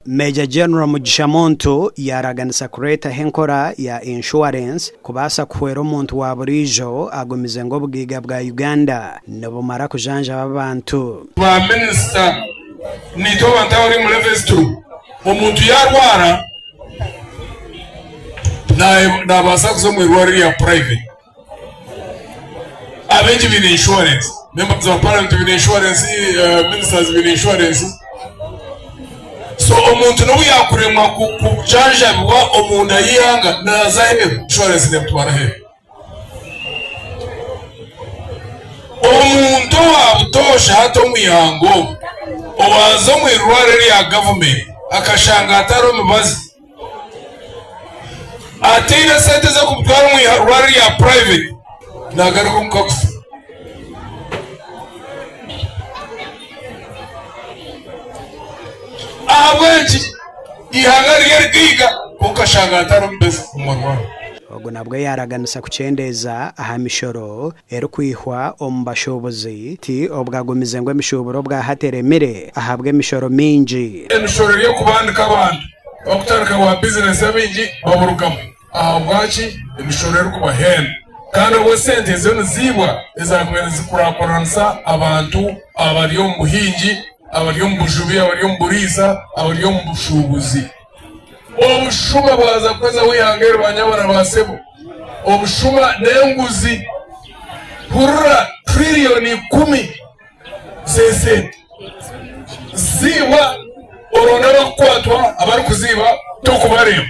Major General Mugisha Muntu yaaraganisa kureetaho enkora ya Insurance kubaasa kuhwera omuntu wa buriijo agumize ngu obugaiga bwa Uganda nibumara kujanjaba abantu. Ba Minisita, Naitwe abantu abari omu levo ezi turimu, omuntu yaarwara naabaasa kuza omu irwariro erya purayiveti. Abeegi baine inshuwarensi, members of parliament baine inshuwarensi, eh, ministers baine inshuwarensi. So omuntu n'obu yaakuremwa ku- kujanjabibwa omunda y'eihanga naaza aheeru, inshuwarensi neemutwara aheeru. Omuntu owaabutoosha hati omu ihanga omu, owaaza omu irwariro rya gavumenti akashanga hatariho mibazi, ataine sente z'okumutwara omu irwariro rya purayiveti naagaruka omuka kufa. ahabw'enki ihanga rye rigaiga kwonka ashanga atari omubeezi kumurwaho. Ogu nabwo yaaraganisa kukyendeeza aha mishoro. erikwihwa omu bashuubuzi ti obwagumize ngu emishuuburo obwa hati eremire ahabw'emishoro mingi. Emishoro eri okubandika abantu bakutandika bwa bizinensi abaingi baburugamu ahabwaki emishoro erikubahenda kandi obwo sente ezo niziibwa ezakubaire nizikurakuranisa abantu abari omu buhingi, abari omu bujubi, abari omu buriisa, abari omu bushuubuzi. Obushuma bwaza kukozaho ihanga eri banyabara ba sebo. Obushuma n'enguzi. Hurira trillioni ikumi z'esente ziibwa oronde abarikukwatwa abarikuziiba tokubareeba.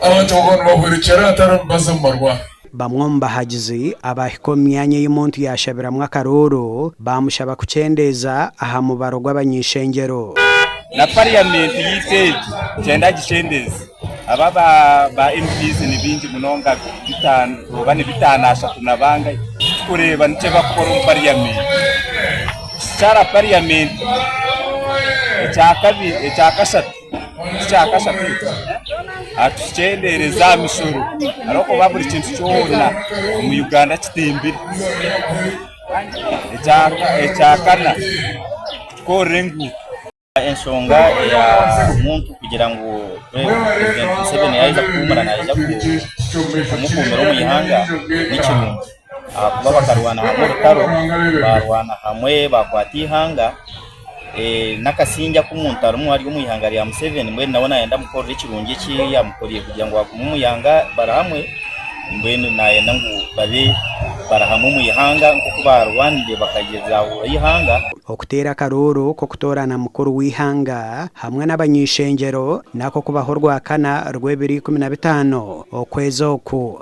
Abantu abagabo nibahwerekyera hatariho mibazi omu marwariro. Bamwe omu bahagizi abaahika omu myanya ei omuntu yaashabiramu akarooro baamushaba kukyendeeza aha mubaro gw'abany'eishengyero. Na pariyamenti yaitu egi nikyenda agikyendeeze. Aba ba MPs ni baingi munonga bitaano oba ni bitaano ashatu na bangahi, tikureeba nikyo barikukora omu pariyamenti. Kishara pariyamenti ekya kashatu. Ekyakashatu, atukyendeereze aha mishoro ahabw'okuba buri kintu kyona omu Uganda kitimbire. Ekyakana, kutukorera enguuto. Enshonga eya muntu kugira ngu Purezidenti Museveni yaaheza kuhumura naija kumukuumira omu ihanga nikirungi. ahakuba bakarwana hamwe orutaro, baarwana hamwe baakwata eihanga, n'akasingye aku omuntu arimu ari omu ihanga rya Museveni mbwenu nawe naayenda amukorere ekirungi eki yaamukorire kugira ngu agume omu ihanga bari hamwe, mbwenu naayenda ngu babe bari hamwe omu ihanga nk'oku baarwanire bakagyezaahura eihanga. Okuteera akarooro k'okutoorana mukuru w'eihanga hamwe n'abany'eishengyero, nako kubaho orwakana rw'ebiro ikumi na bitaano okwezi oku.